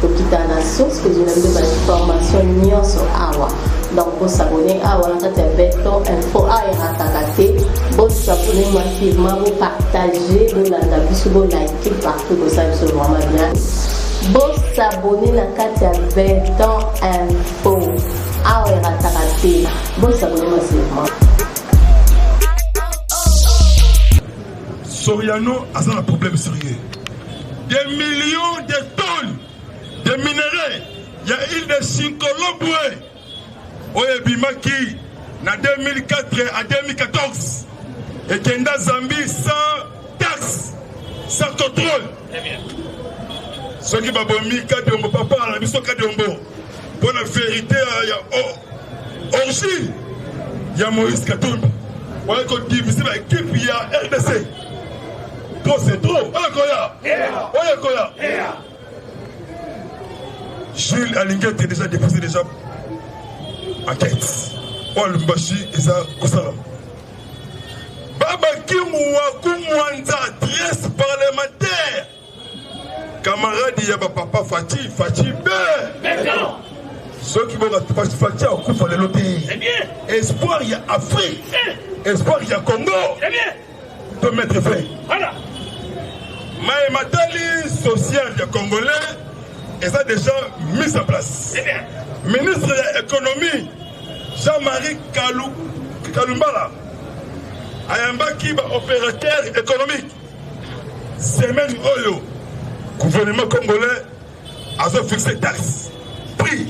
tokita na source kozwela biso bainformation nyonso awa donc bosabone awa na kati ya beton info awa erataka te bosabone massivement bopartage bolanda biso bolike partout bosala biso vraiment bien bosabone na kati ya beton info awa erataka te bosabone massivement Soriano aza na problème sérieux. Des millions de tonnes de minerais ya île de Sinkoloboe oyo ebimaki na 2004 à 2014 ekenda Zambie sans taxe, sans contrôle. Très bien. soki babomi kadiombo papa na biso kadiombo Mpo na verite ya origine ya Moïse Katumbi waye kodivise ba ekipe ya RDC trop c'est trop oyo ekoya oyo ekoya Jules alingi ete déjà déposé déjà enquête oyo Lubumbashi eza kosalama babaki muwaku mwanza adresse parlementaire Camarade ya ba papa Fatih, Fatih Béton. soki boka fati akufa lelo te eh espoir ya afrique eh. espoir ya congo eh to mettre fin maye matali social ya congolais eza déjà mise en place ministre ya économie jean-marie kalumbala ayambaki baopérateur économique Semaine oyo gouvernement congolais azo fixe taxe prix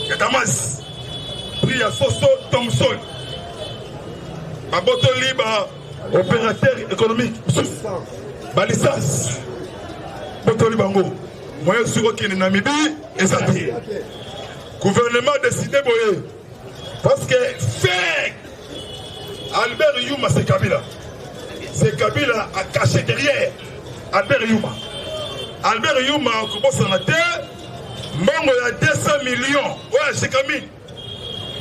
ya damas prix ya soso thomson babotoli ba opérateur économique mosusu balicence botoli bango moyen soki okende na mibi eza te gouvernement décide boye parce que fake Albert Yuma c'est Kabila. C'est Kabila a caché derrière Albert Yuma. Albert Yuma akobosa na te mbongo ya 200 millions oyo ashikami.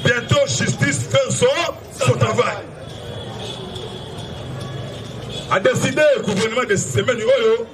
Bientôt justice fait son, son travail. A décidé le gouvernement de semaine oyo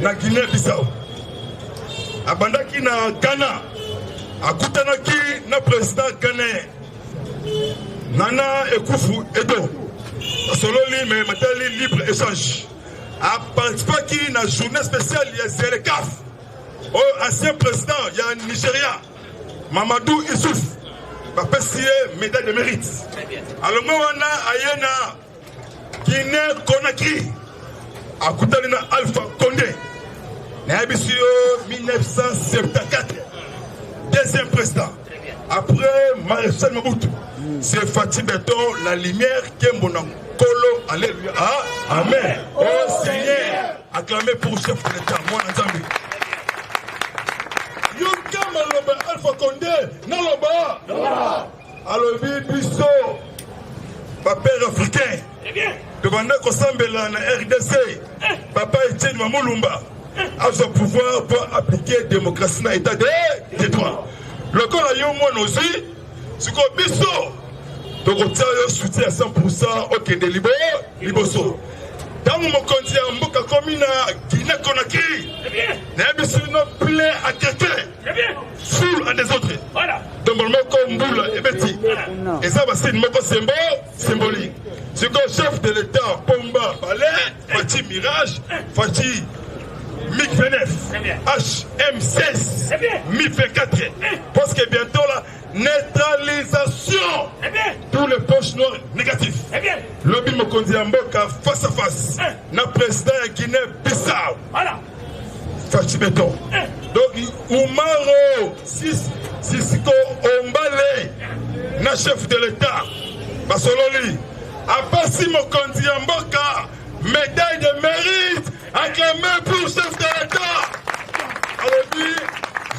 Na Guinee Bissau abandaki na Ghana, akutanaki na president ghanais Nana Ekufu Edo, asololi me matali libre échange, aparticipaki na journée spéciale ya Zerekaf oyo oh, ancien président ya Nigeria Mamadou Issouf bapesi ye médaille de mérite alongo wana aye na Guinee Conakry akutani na Alpha Conde nayebisi yo 1974 deuxième président après Marechal Mobutu c'est Fatih Beton la lumière Kembo na Kolo alléluia ah, amen oh Seigneur acclamé pour chef de l'État mwana Nzambe yoka maloba Alpha Conde naloba alobi biso bapere africain tobanda kosambela na rdc papa etienne mamulumba azwa pouvoir mpo aplike démocratie na état de droit lokola yo mwana ozwi sikoyo biso tokotia yo soutien ya 100 okende liboso ntango mokonzi ya mboka komi na guine conakry nayebisi no plein akete sur un des autres ndombolo moko mbula ebeti eza basine moko sembo symbolique sikoyo chef de l'état pomba bale faci mirage faci mig 29 hm16 mi 24 parce que bientôt là neutralisation pour les poches noires négatif lobi mokonzi ya mboka face à face na président ya guinée bissau Fatshi Beton. Donc, Umaro, Sis, Sisiko Ombale, na chef de l'État, Basololi, apesi mokonzi ya mboka médaille de mérite acclamé pour chef de l'État. Alobi,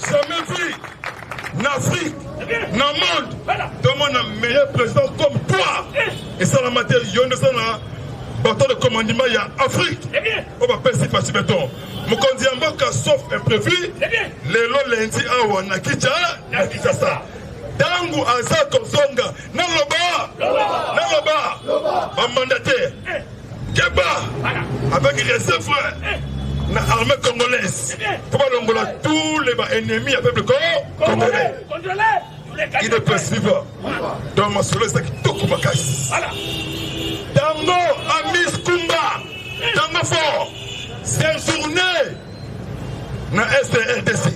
jamais vu na afrique na monde tomona meilleur président comme toi esalama te yo nde eza na bato de commandement ya afrique oyo bapesi pasi beton mokonzi ya mboka sauf imprévu lelo lendi awa na kicha na kisasa ntango aza kozonga naloba naloba bamandate Keba avec respect frère na armée congolaise pour balongola tous les ba ennemis ya peuple congolais il ne peut suivre donc masolo eza kitoko makasi tango amis kumba tango fort séjourné na est rdc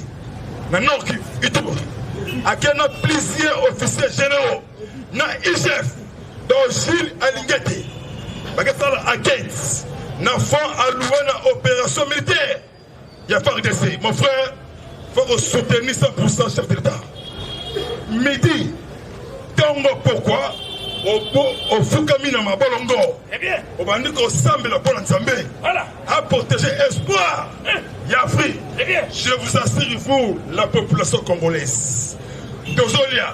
na nord kivu ituba akenda plusieurs officiers généraux na igf donc jules alingi ete bakesala enquête na fond allouwe na opération militaire ya fardc mon frère faut ko soutenir 100% chef de l'état midi ntongo pokwa ofukami na mabolongo eh obandi kosambela mpo na nzambe a protege espoir eh. ya afrique eh je vous assure vous la population congolaise tozolia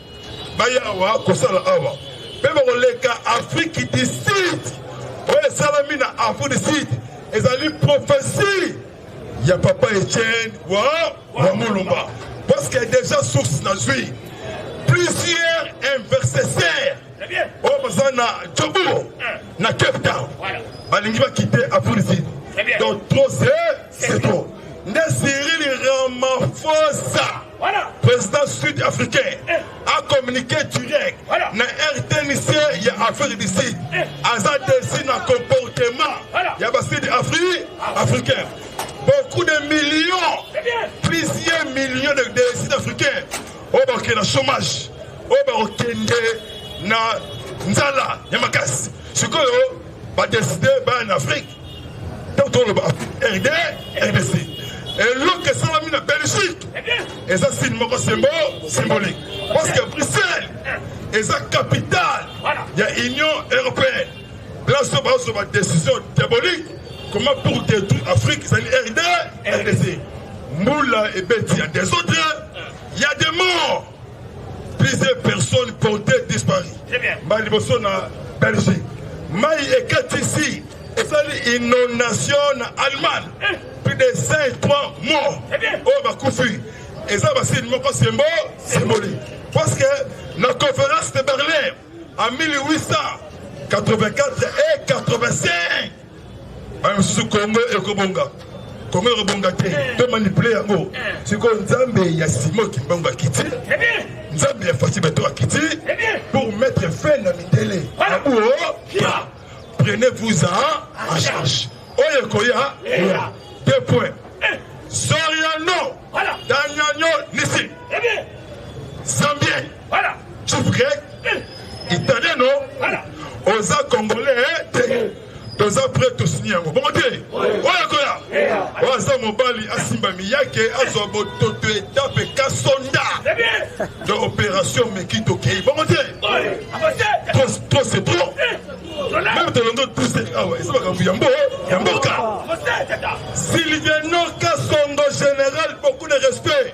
baya awa kosala awa mpe bakoleka afriki du sud oyo esalami na afriki du sud ezali profesi ya papa etienne wa wa mulumba parce que déjà source nazwi plusieurs investisseurs oyo oh, baza na jobourg na cape town balingi bakite afriki du sud donc trop c'est trop nde cyril ramaphosa President sud-africain a communiqué direct na RTNC ya Afrique du Sud aza desi na comportement ya ba sud Afrique africain beaucoup de millions plusieurs millions de, de sud africains oyo bakokende na chômage oyo bakokende na nzala ya makasi sikoyo badeside baya na afrique toloba rd rdc eloko esalami na belgique eza signe moko sembo symbolique parce que bruxelles eza capitale ya union européenne place oyo bazwa badécision diabolique comment pour détruire afrique ezali rd rdc mbula ebeti ya desordre ya demor Plusieurs personnes comptaient disparues. Ba liboso na Belgique. Mai ekatisi esali inondation na Allemagne. Eh. Plus de 5 3 morts. Oyo bakufi. Eza basini moko sembo symbolique. Parce que la conférence de Berlin en 1884 et 85 Ba mosusu Congo ekobonga. Congo ekobonga te. To manipuler yango. Siko Nzambe ya Simon Kimbangu akiti. Nzambe ya Fatshi Beton akiti pour mettre fin na mindele. Abuo. Oh, Prenez-vous à en charge. Oye koya. Deux points. Soriano. Daniel Nissi. Zambien. Voilà. Chief Greg, eh. Italien no. Voilà. Oza congolais eh, te. toza prêt tosini yango bongo te oyo koya oyo aza mobali asimba miyake azwa bototo etape kasonda de opération meki tokei bongo te trop c'est trop meme tolondo tuse awa eza makambo ya mbo ya mboka sylviano kasongo général beaucoup de respect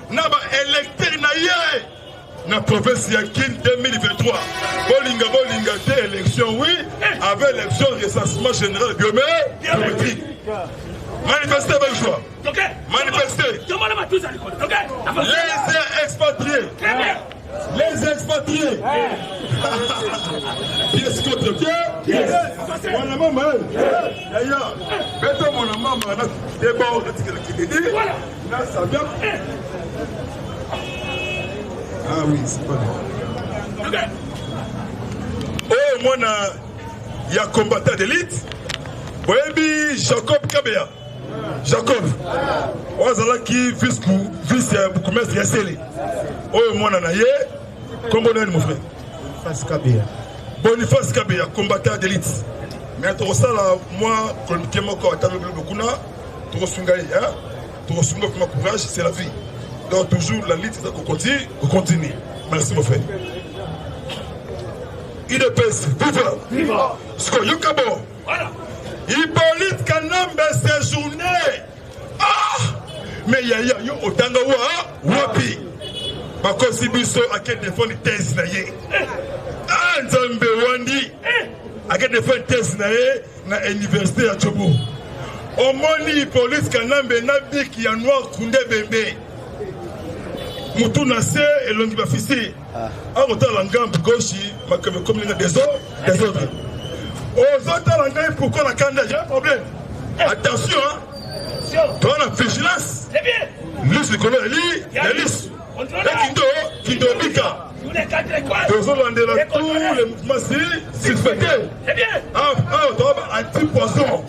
na ba electeur na ye na province ya kin 2023 bolinga bolinga te élection oui avec élection recensement général biométrique manifester belle joie manifester les expatriés les expatriés pièce contre pièce wana mama eh. yaya beta mwana mama na deba okatikela kididi oyo mwana ya combattant d'élite boyebi jacob kabeya jacob oyo azalaki vice ya bourgmestre ya sele oyo mwana na ye nkombo nani mon frère boniface kabeya boniface kabeya combattant d'élite me tokosala mwa kolomike moko ata lobi lobi kuna tokosunga ye hein tokosunga kuna courage c'est la vie donc toujours la lutte eza kokontinue kokontinue merci mon frère udps viva siko yoka bo hippolyte kanambe séjourné ah mais yaya yo otanga wa wapi bakosi biso ake defendre thèse na ye ah nzambe wandi ake defendre thèse na ye na université ya Djobo omoni police kanambe na biki ya noir kunde bembe mutu na se elongi bafisi ah. akotala ngambu goshi makambo ekomi na desordre desordre ozotala ngai pourkoi na kanda ya problème eh. attention toa na vigilance lise likolo ya li ya lisu Ekindo Kindobika tozolandela tous les mouvements si suspectés awa toa ba anti poison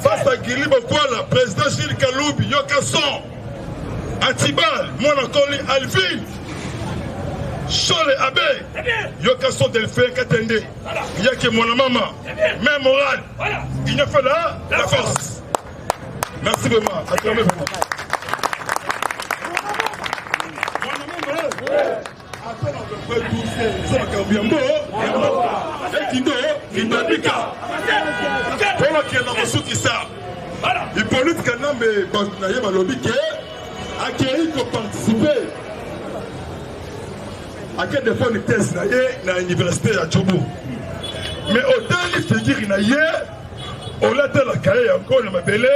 face à Guilly Bokwala président Gilles Kalubi yoka son Atibal mwana koli Alvin Shole Abe yoka son Delphin Katende yake mwana mama mère morale il ne fait la la force Merci vraiment. Acclamez vraiment. Après notre frère Toussaint, nous sommes à Kambiambo. Et Kindo, Kindabika. Pour la Kienda Mosuki ça. Hippolyte Kanambe, Bantinaye Balobi, qui est accueilli pour participer. À quel défaut une thèse na ye na université ya Djobo. Mais autant il figure na ye olatala kaye yango na mabele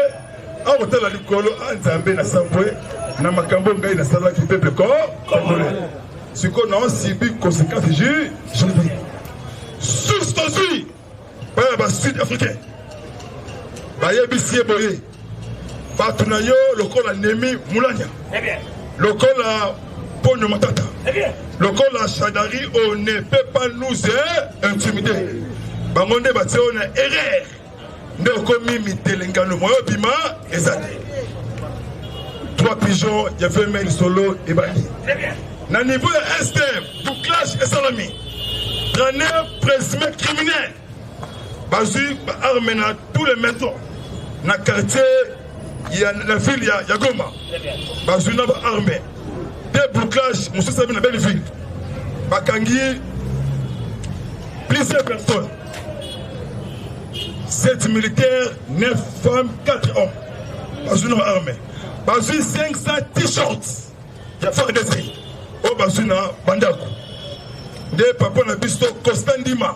akotala likolo a ah, nzambe na sambwe na makambo ngai nasalaki pepe ko congolais sikoyo naosibi conséquence ju judi susi tozwi baya basud africain bayebisi ye boye bato na yo lokola nemi mulanya lokola ponyo matata lokola shadari on ne peut pas nous intimider bango nde batie oyo na erreur nde okomi mitelengano moyo bima eza te trois pigeon ya vemel solo ebandi na niveau ya est bouclage esalami 39 présumé criminel bazwi ba arme na tous les maisons na quartier ya na ville ya, ya goma bazwi na ba arme de bouclage mosusu abi na belleville bakangi plusieurs personnes 7 militaires 9 femmes 4 hommes bazwi na ba arme bazwi 500 t-shirts ya fardc oyo bazwi na bandako nde papa na biso constant ndima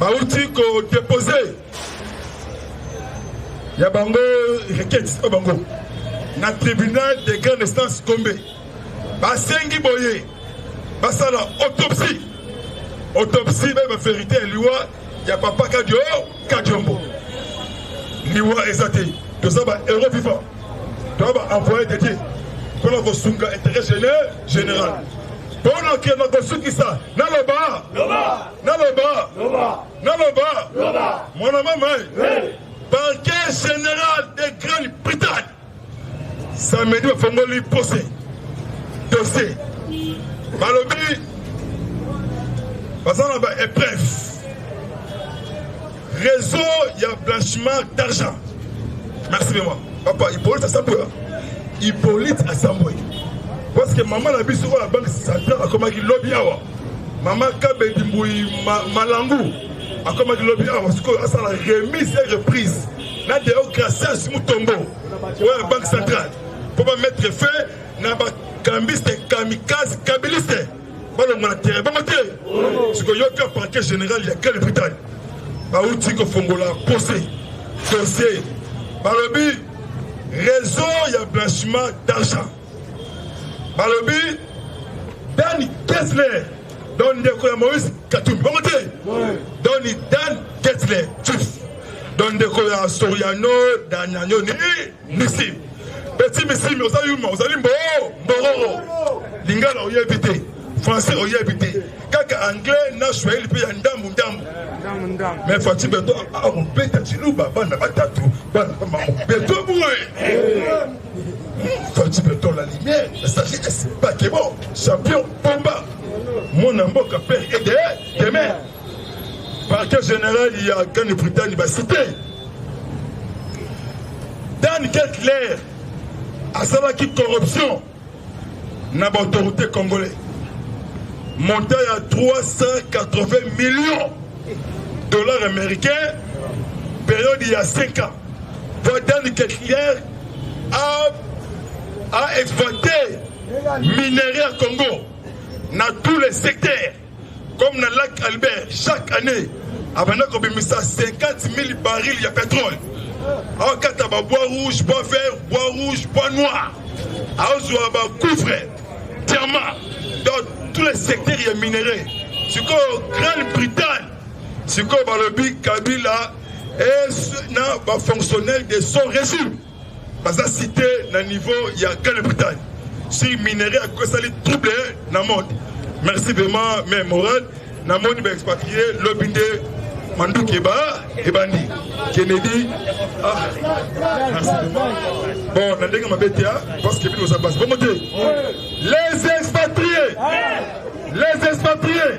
bauti kodepose ya bango requete o bango na tribunal de grande instance gombe basengi boye basala autopsie autopsie bayeba verité ya liwa ya papa kadio kadiombo liwa eza te toza ba euro vivant toza ba envoye de dieu mpona kosunga intérêt général mpona kenda kosukisa naloba Naloba, naloba, mwana mama, parquet général de Grande-Bretagne samedi bafongoli pose dossier balobi baza na ba épreuve Réseau ya blanchiment d'argent. Merci maman. Papa Hippolyte Asambwe. Hippolyte Asambwe. Parce que maman na biso la banque centrale akomaki lobi awa. Maman Kabedi Mbuyi ma, Malangu akomaki lobi awa sikoyo asala remise et reprise na deo gracias mutombo oyo ya banque centrale mpo ba mettre fin na bakambiste kamikaze kabiliste balongwa na terrain bango te sikoyoka parquet général ya grande bretagne bauti kofongola pose dossier balobi réseau ya blanchiment d'argent balobi dani kesler don ndeko ya moïse katumbi bango te doni dan kesler chief don ndeko ya soriano dananio nini Merci. Petit Missimi, oza yuma, ozali mbo, mbororo. Lingala oyebi te, français oyebi te. Kaka anglais na swahili mpe ya ndambu ndambu. Mais Fatshi Beto akobeta Tshiluba bana batatu, bana ba mama Beto boye. Fatshi Beto la lumière, la sagesse, Bakebo, champion, Pomba. Mwana mboka père et de demeure. parquet général ya grande bretagne basite dan ketler asalaki corruption na baautorité congolais montant ya 380 millions dollars américains période ya 5 ans po dan ketler a, a exploité minerai ya congo na tous les secteurs Comme na lac Albert, chaque année, abanda kobimisa 50 000 barils ya petrole. Akata ba bois rouge, bois vert, bois rouge, bois noir. Azwa ba cuivre, diamant dans tous les secteurs ya minerais. Sikoyo Grande-Bretagne, sikoyo balobi Kabila est na ba fonctionnaire de son régime. baza cité na niveau ya grande bretagne sur minerai ya kosali trouble na monde merci vraiment mais moral namoni baexpatrie lobi nde manduki eba ebandi kennedy ah, bon na ndenge mabe te ah, parce que bino oza basi bongo te les expatriés les expatriés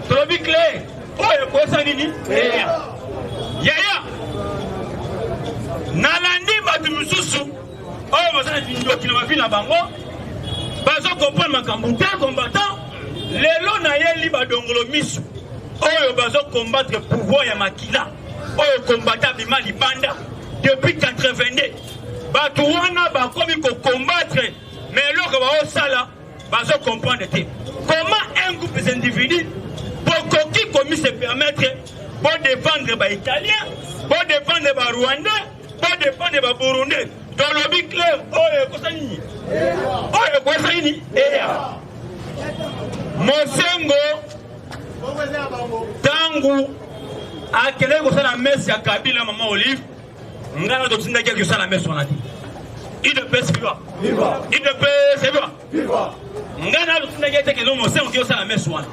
Tolobi cle oyo ekosa nini? Eya. Yaya. Nalandi bato mosusu oyo baza na kindoki na mavi na bango bazo comprendre makambo te combattant lelo nayeli badongolo miso oyo bazo combattre pouvoir ya makila oyo combattant abima libanda depuis 82 bato wana bakomi kocombattre mais eloko baosala bazo comprendre te comment un groupe des individus bokoki komi se permettre bo défendre ba italien bo défendre ba rwandais bo défendre ba burundais tolobi clair oyo ekosa nini oyo ekosa nini eya mosengo ntango akendaki kosala mese ya kabila mama olive nga na totindaki ya kosala mese wana te idps viva idps viva nga na totindaki ete kende mosengo te osala mese wana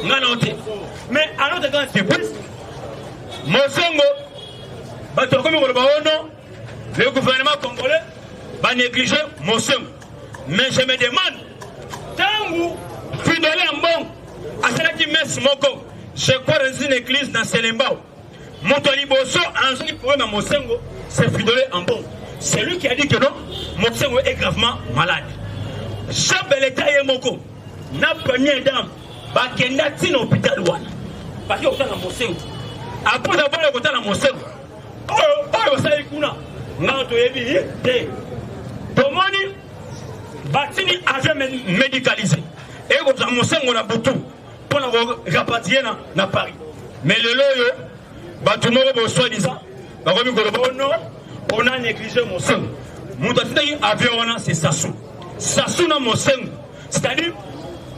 nga na yo te mais alors teka surprise mosengo bato bakomi koloba ono oh le gouvernement congolais banéglige mosengo mais je me demande ntango fidole ya mbongo asalaki mese moko je crois dans une église na selembao Moto ya liboso azongi problème ya Mosengo, c'est Fridolin Ambongo. C'est lui qui a dit que non, Mosengo est gravement malade. Jean Beleta ye moko na première dame bakenda ntina hôpital wana baki kotala Mosengo. Après abana kotala Mosengo, oyo oyo basali kuna ngai toyebi ye te. Tomoni batini avion médicalisé ekozwa Mosengo na butu mpo na ko rapatrier na, na paris me lelo oyo bato moko boswadisa bakomi koloba o oh no ona néglige mosengo moto atindaki avion wana se sasu sasu na mosengo c'est-à-dire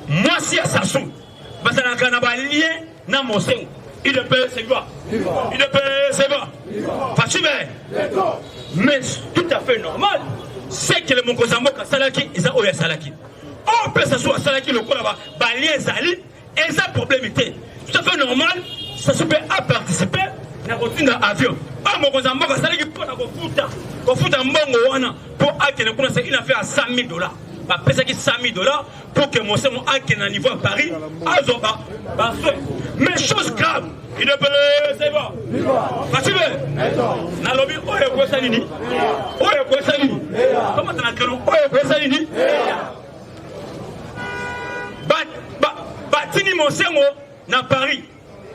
mwasi ya sasu bazalaka na balien na mosengo idepele segwa idepele segwa fashibe mais tout à fait normal sekele mokonzi ya mboka asalaki eza oyo asalaki Or, Pesasu asalaki lokola ba balie ezali eza problème te. Tout à fait normal, Sassou pe a participé na kotinda avion. Oyo mokonzi ya mboka asalaki mpo na kofuta kofuta mbongo wana mpo akende kuna c'est une affaire ya 100 000 dollars. bapesaki 100 000 dollars pour que mosemo akende na niveau ya paris azwa basoin mais chose grave nalobi oyo ekwesa nini oyo ekwesa nini tomata na kelo oyo ekwesa nini batini mosengo na paris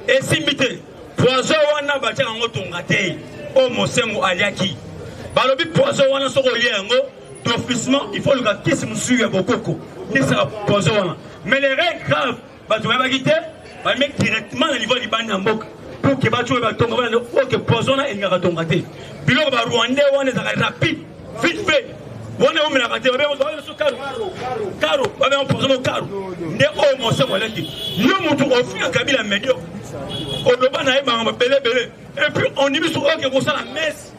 esimbi te poison wana batiaka yango tonga te oyo mosengo aliaki balobi poison wana soki olie yango d'officement il faut oluka kisi mosusu ya bokoko ndisaka poison wana mais le règle grave bato bayebaki te bameki directement na niveau ya libanda ya mboka pour que bato oyo batonga bana oke poison na elingaka tonga te biloko ba rwandais wana ezalaka rapide vite fait wana eumelaka te babeso karo karo babenga poison mo karo nde oyo moso moleki yo motu ofinga kabila medio oloba na ye bango belebele et puis on dit biso oke kosala messe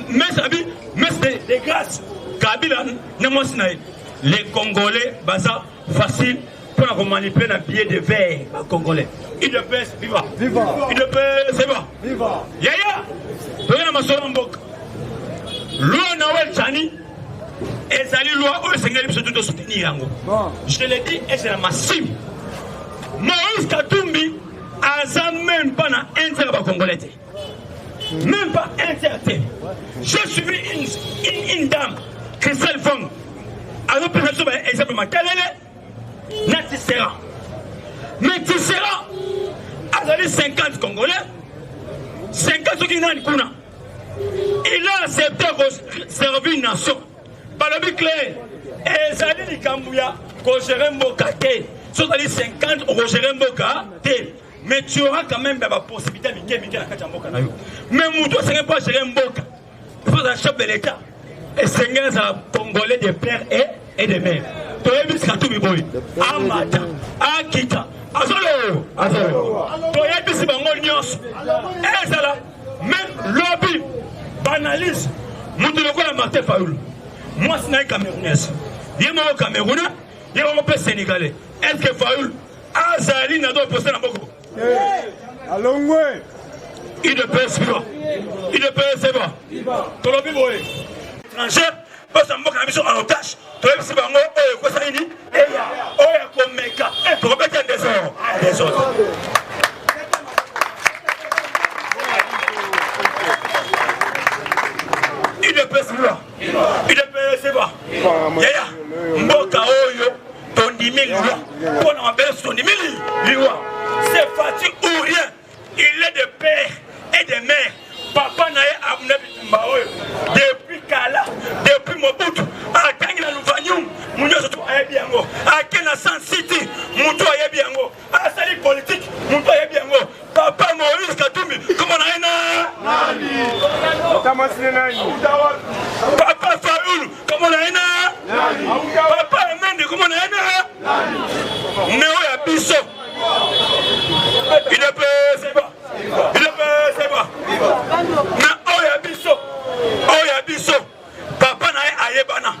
messe abi messe de grâce kabila na mwasi na ye les congolais baza facile mpo na komanipule na billet de veille ba congolais udps viva udps viva yaya toye na masolo ya mboka loi nawel chani ezali loi oyo esengeli biso tu tosoutenir yango je le dis et c'est la massive moïse katumbi aza meme mpo na intérêt ya bacongolais te Même pas un certain. J'ai suivi une, une, une dame, Christelle Fong, à l'opération de l'examen Makalele, na Tisserand. Mais Tisserand, azali 50 Congolais, 50 soki nani kuna. Il a accepté servir une nation. Balobi clair, ezali likambo ya kogere mboka te. Soki ozali 50 okogere mboka te. mais tu auras quand même ba possibilité ya mike mike na kati ya mboka na yo mais moto asengeli mpo agere mboka faut azala chef de l'état esengeli azala congolais de père et, et de mère toyebisi katumbi boye amata akita azolowo azolowo toyebisi bango nyonso ezala meme lobi banalyse moto lokola martin fayulu mwasi na ye camerounaise ye moko camerounais ye moko mpe sénégalais est ce que fayulu azali na do poste na boko alongwe udps viva udps viva tolobi boye étranger pesa mboka na biso en otage toyebisi bango oyo ekosa nini eya oyo akomeka tokobeta desordre desordre udps viva udps viva yaya mboka oyo tondimi liwa mpo na mabele so tondimi liwa c'est fati ou rien il est de père et de mère papa na ye amuna bitumba oyo depuis kala depuis mobutu atangi na luvanium munyonso to ayebi yango ake na san city moto ayebi yango asali politiki moto ayebi yango papa moïse katumbi kombo na ye na papa faulu kombo na ye na papa amende kombo na ye na neo ya biso idepeseba idepeseba na oyo ya biso oyo ya biso papa na ye ayebana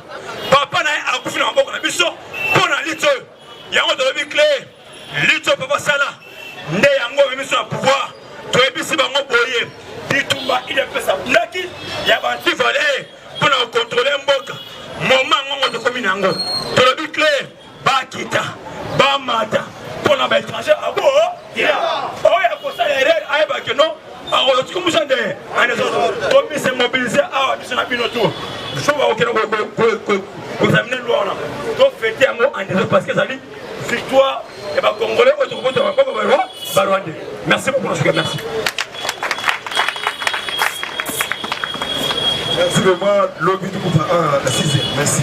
papa na ye akufi na maboko na biso mpo na litso oyo Yango tolobi cle lutte oyo papa sala nde yango omemi biso na pouvoir toyebisi bango boye bitumba idps abundaki ya bantivaleur mpo na kokontrole mboka moma yango tokomi na yango tolobi cle bakita bamata mpo na baétranger abo oyo akosala erreur ayeba ke non akotika musa nde tomise mobilise awa biso na bino tu so bakokende kozamine lwa wana tofete yango andese parce que ezali victoire ya bacongolais oyo tokobota bakoko barwande merci beaucoup nasuka merci Merci vraiment, l'objet du coup, la sixième. Merci.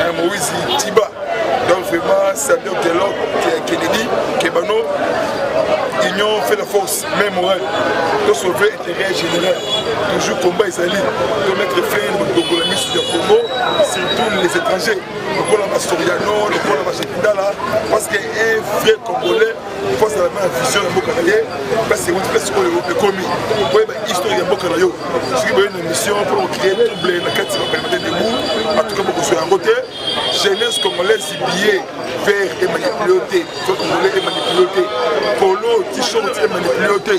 Eh, moise tiba donc vraiment sadio telok kennedy kebano union fait la force mais morale to sauver intérêt général toujours combat ezali to mettre fin na badogola misu ya congo surtout les étrangers lokola basoriano lokola bashekidala parce que un vrai congolais mpo azala na vision ya mboka na ye place ewuti place oyo ekomi oyeba histoire ya mboka na yo soki boye na mission mpo okrie trouble na kati bapelemete debu atuka bokozwa yango te jeunesse congolaise billet vert emanipule te to congolais emanipule te polo t-shirt emanipule te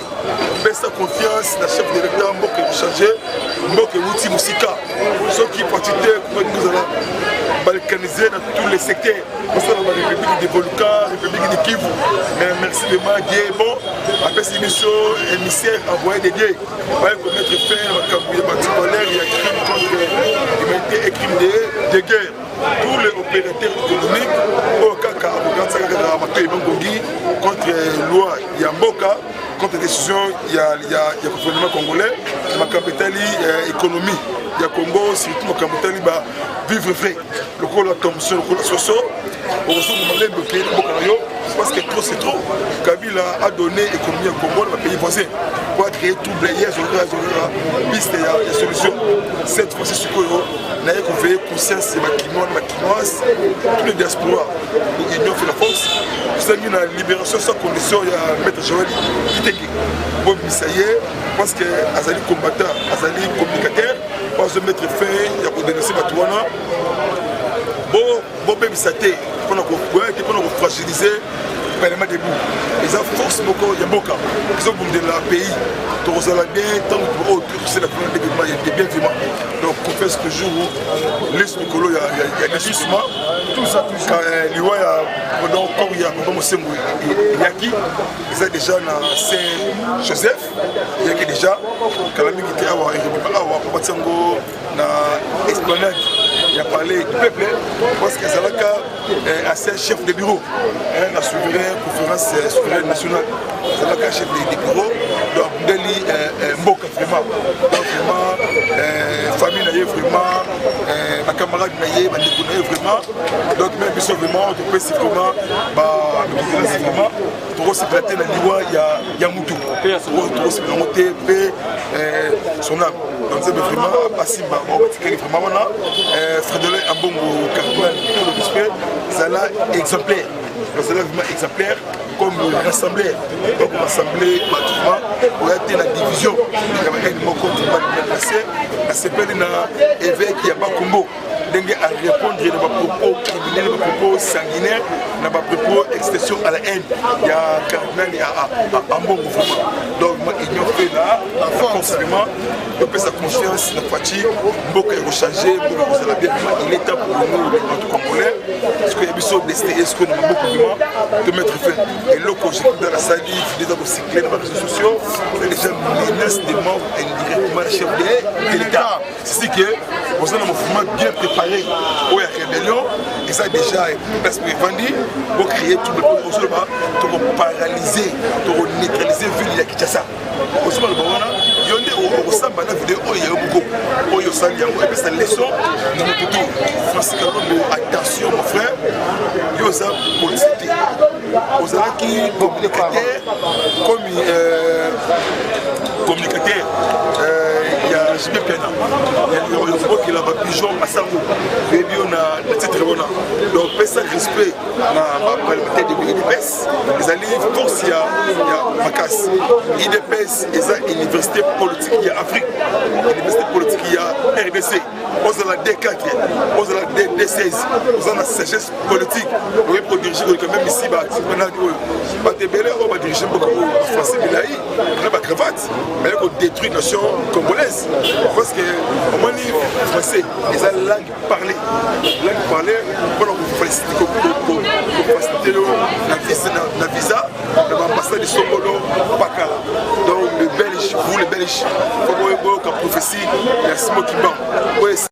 pesa confiance na chef de l'état mboka ekochange mboka ewuti mosika soki patite kokozala balkanize na tous les secteurs osala ba république de volcan république de kivu mais merci de ma die bon apesi biso émissaire envoyé de die baye komettre fin na makambo ya baticolere ya crime contre humanité et crime de guerre pour les opérateurs économiques oyo kaka akokanisaka kaka matoi bangongi contre loi ya mboka contre décision ya, ya, ya gouvernement congolais makambo etali euh, économie ya congo surtout makambo etali ba vivre vrai lokola tomso lokola soso okozonga malembe pays na mboka na yo parce que trop c'est trop kabila a donné économie ya congo na bapays voisin po acreye trouble ye azolaka azolaka piste ya solution cette fois-ci sikoyo naye koveye conscience ya bakinois na bakinoise tous les diaspora pour union fait la force tosengi na libération sans condition ya maître joel kitenge bobimisa ye parce que azali combattant azali communicateur po azomettre fin ya kodenonse bato wana bobebisa te mpona koboya te mpona kofragilise parlement debout eza force moko ya mboka ezobundela pays tokozala bien ntango oyo oh, tokosela kuna ndenge ma ya bien vima donc confesse toujours lese likolo ya lisuma eh, liwa ya donc corps ya papa mosembo eyaki eza déjà na saint joseph eyaki déjà kala mingi te awa awa babatia yango na esplanade ya palais du peuple parce que azalaka eh, ancien chef de bureau eh, na souverain conférence eh, souveraine nationale azalaka chef de bureau donc abundeli mboka vraiment donc vraiment famille na ye vraiment bacamarade na ye bandeko na ye vraiment donc meme biso vraiment topesi vraiment bamikilasi vraiment tokosepela te na liwa ya motu oyo tokosepela yango te mpe eh, sona banzembe vraiment apasi bango batikeli vraiment wana eh, fredolin ambongo cardinal tolobis mpe zala exemplaire bazala vraiment exemplaire comme rassembleur donc rassemble bato vraiment oya te na division ekabakani moko tobalinga place nasepeli na évêque ya bakumbo ndenge a répondre na bapropos criminel bapropos sanguinaire na bapropos extension à la haine ya cardinal ya ambongo vraiment donc ma union fait là forcément topesa confiance na faci mboka ekochange mboka ekozala bien vraiment il est temps pour nous les bato congolais soki ya biso destin esko na maboko vraiment tomettre fin eloko jekunda nasali fideza kocycle na bareseau sociaux c'est déjà menace de mort indirectement chef de l'état sisi ke oza na mouvement bien préparé oyo ya rébellion eza déjà place po evandi bocréé trouble po ozoloba tokoparalyse tokoneutralise ville ya kinshasa ozoloba loba wana yo nde okosamba na video oyo ya yo moko oyo osali yango epesa leçon na motutu francis kalombo attention mon frère yo oza polisi te ozalaki communicateur komi euh, communicateur euh, ya jb pena yokobokela bapigeon masango oyebi yo na titre wana donc pesa respect na baparlementaire de udps ezali force ya makasi udps eza université politique ya afrique université politique ya rdc ozala d4 ozala d16 oza na sagesse politique oye kodirige koleka meme isi banani oyo bato ebele oyo badirige mboka oyo bafranci milai na bacravate baye kodétruire nation congolaise parce que omoni français eza langue parlé langue parlé mpona kofacilite yo na visa na baambassade songolo pakala donc le belge vous le belge fokoyoka prophétie ya simo kimbangu